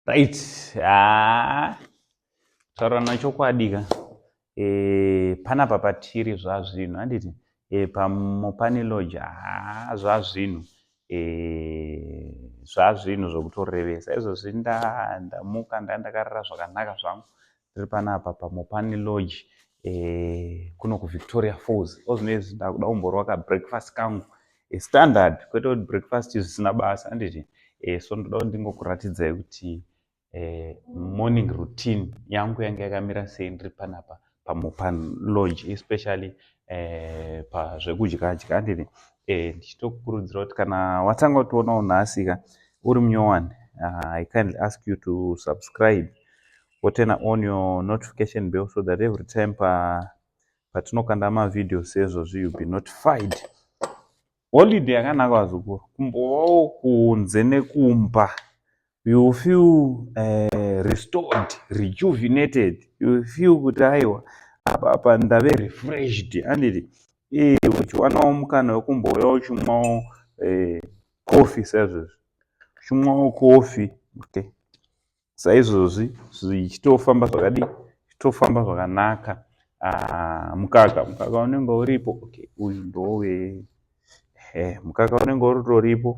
right ah taurana chokwadi ka e, panapa patiri zvazvinhu handiti e, eh, pamopani lodge ha zvazvinhu e, zvazvinhu zvokutorevesa izvozvi ndamuka nda ndakarara zvakanaka zvangu tiri panapa pamopani lodge eh, kuno kuvictoria falls ozvinoizvi ndakuda kumborwa kabreakfast kangu eh, standard kwete kuti breakfast zvisina basa anditi eh, so ndoda kuti ndingokuratidzai kuti eh, morning routine yangu yange yakamira sei ndiri panapa pamopani lodge especially eh, pazvekudya dya anditi eh, ndichitokukurudzira kuti kana watanga kutionawo nhasika uri munyowani uh, i kindly ask you to subscribe woturna on your notification bell so that every time pa patinokanda mavideo seizvozvi you be notified holiday yakanaka vazukuru kumbovawo kunze nekumba you feel uh, restored rejuvenated you feel kuti aiwa apa apa ndave refreshed anditi e uchiwanawo mukana wekumbouya uchimwawo eh, coffee saizvozvi uchimwawo coffee okay saizvozvi zvichitofamba zvakadii zvichitofamba zvakanaka ah, mukaka mukaka unenge uripo okay uyu ndowe eh, mukaka unenge uritoripo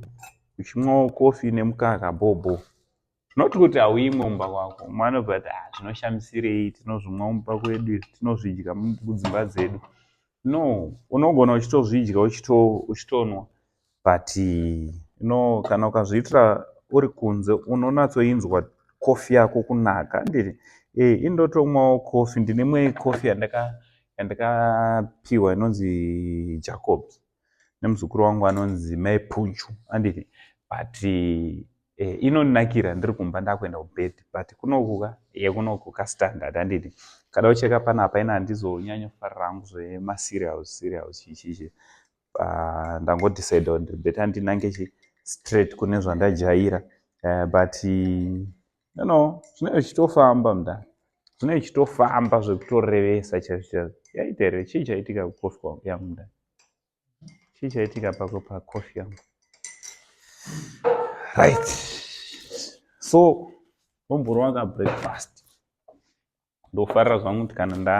uchimwawo kofi nemukaka bhobho not kuti hauimwe mumba kwako umwe anobva kuti ah, zvinoshamisirei tinozvimwa mumba kwedu izvi tinozvidya kudzimba dzedu no unogona uchitozvidya uchitonwa but you know kana ukazviitira uri kunze unonatsoinzwa coffee yako kunaka handiti e indotomwawo coffee ndine imwe coffee yandaka yandakapiwa inonzi jacobs nemuzukuru wangu anonzi mai puchu handiti but e, inonakira ndiri kumba ndakuenda kubed but kunokuka yekunokuka standard handiti kada ucheka panapa ina handizonyanya kufarira hangu zvemaserials serials chichichi uh, ndangodecide kuti ndiri better ndinange straight kune zvandajaira uh, but you know zvinenge zvichitofamba mda zvinenge zvichitofamba zvekutorevesa chaizvo chaizvo yaita here chii chaitika kukofi kwangu yangu mda chii chaitika pako pakofi yangu right so omborwanga breakfast ndofarira zvangu kuti kana nda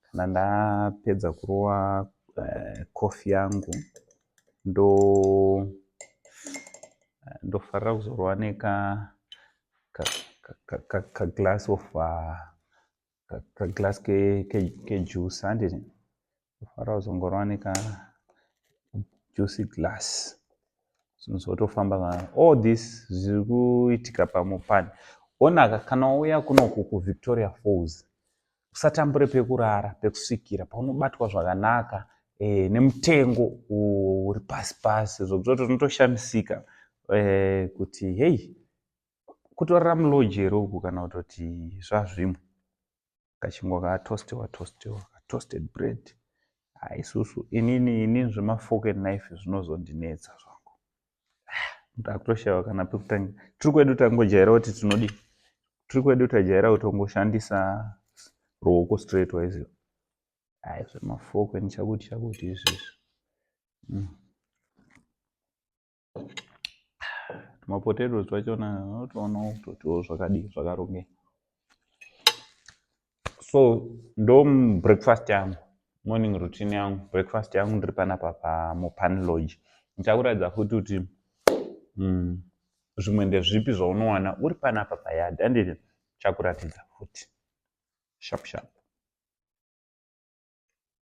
kana ndapedza kurova uh, coffee yangu ndo eh, ndofarira kuzorova neka kaglass of uh, kaglass kejuice handiti Kufara kuzongorova neka juicy glass. Zvinhu zvotofamba kana all this zviri kuitika pamupani. Onaka kana wauya kunoku kuVictoria Falls usatambure pekurara pekusvikira paunobatwa zvakanaka eh, nemutengo uri pasi pasi zvokutoti unotoshamisika eh, kuti hei kutorara muloji here uku kana kutoti zvazvimwe kachingwa katostiwa tostiwa katoasted bread ah, isusu inini inini zvemafork and knife zvinozondinetsa zvangu ah, ndakutoshaiwa kana pekutanga tiri kwedu tangojaira kuti tinodi tiri kwedu tajaira kuti ungoshandisa ruoko straight wise ayi zvemafork and chakuti chakuti izvezvi mm. mapotatoes twachona unotoonawo kutotiwo zvakadii zvakarongeka so ndo breakfast yangu morning routine yangu breakfast yangu ndiri panapa pamopani lodge ndichakuratidza futi kuti mm, zvimwe ndezvipi zvaunowana uri panapa payard anditi chakuratidza futi sharp sharp